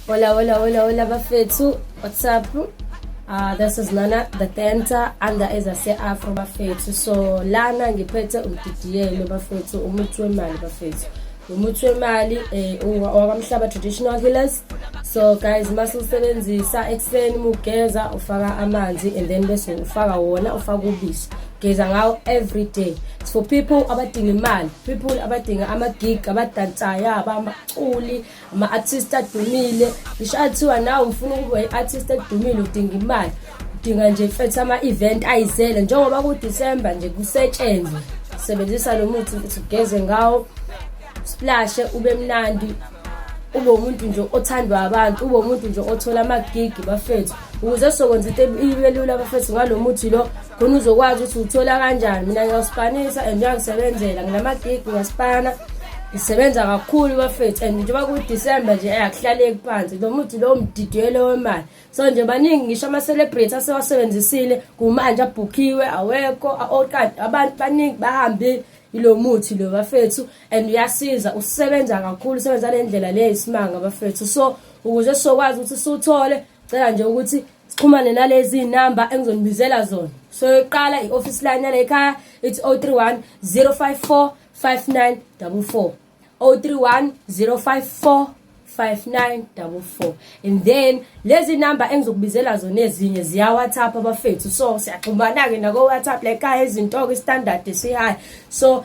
Hola, hola, hola, hola bafethu. What's up? Uh, this is Nana the Tenta and there is a say Afro bafethu. So lana ngiphethe umdidiyelo bafethu, umuthi wemali bafethu. Umuthi wemali eh owamhlaba traditional healers. So guys mase usebenzisa ekseni mugeza ufaka amanzi and then bese ufaka wona ufaka ubisi. Geza ngawo every day. It's for people abadinga imali, people abadinga ama gig, abadansayo, abamaculi ama-artist adumile ngisho athiwa nawe ufuna ukuba i-artist edumile udinga imali udinga nje mfethu ama-event ayizele njengoba kudisemba nje kusetshenzwe sebenzisa lo muthi ukuthi ugeze ngawo splashe ube mnandi ube umuntu nje othandwa abantu ube umuntu nje othola amagigi bafethu ukuze sokwenza into ibe lula bafethu ngalo muthi lo khona uzokwazi ukuthi uthola kanjani mina ngiyawusipanisa and uyangisebenzela nginamagig ngiyaspana ngisebenza kakhulu bafethu and njengoba kudisemba nje ayakuhlaleki phansi lo muthi lowo mdidiyelo wemali so nje baningi ngisho ama-celebrate asewasebenzisile kumanje abhukhiwe awekho okade abantu baningi bahambile ilo muthi lo bafethu and uyasiza usebenza kakhulu usebenza le ndlela le isimanga bafethu so ukuze sizokwazi ukuthi siwuthole cela nje ukuthi sixhumane nalezi namba engizonibizela zona so yokuqala i-office line yale ekhaya it's 031 054 5944 031 054 5944 and then lezi namba engizokubizela zona ezinye ziya WhatsApp abafethu so siyaxhumana ke nako WhatsApp le ekhaya izinto ke standard si high so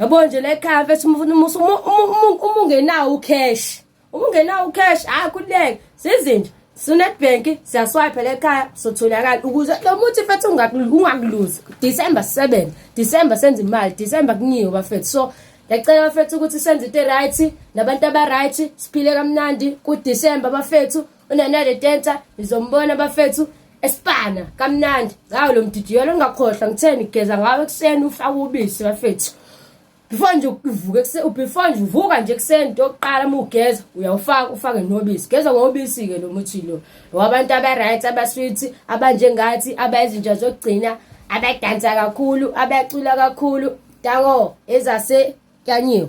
yabo nje le car mfethu uma ungenawo ucash uma ungenawo ucash hayi kuleke sizinje sunetbank siyaswipe le khaya sotholakala ukuze lo muthi mfethu ungakuluzi december 7 december senza imali december kunyiwe bafethu so ngiyacela bafethu ukuthi senze into e-right nabantu aba-right siphile kamnandi kudisemba bafethu unanele tenta nizombona bafethu esipana kamnandi ngawo lo mdidiyelo ungakhohlwa ngitheni geza ngawo ekuseni ufake ubisi bafethu before nje uvuke before nje uvuka nje ekuseni into yokuqala uma ugeza uyawufaka ufake nobisi geza ngobisi-ke lo muthi lo wabantu aba-right abaswithi abanjengathi abayizinja zokugcina abadansa kakhulu abacula kakhulu tango ezase kyanyiwe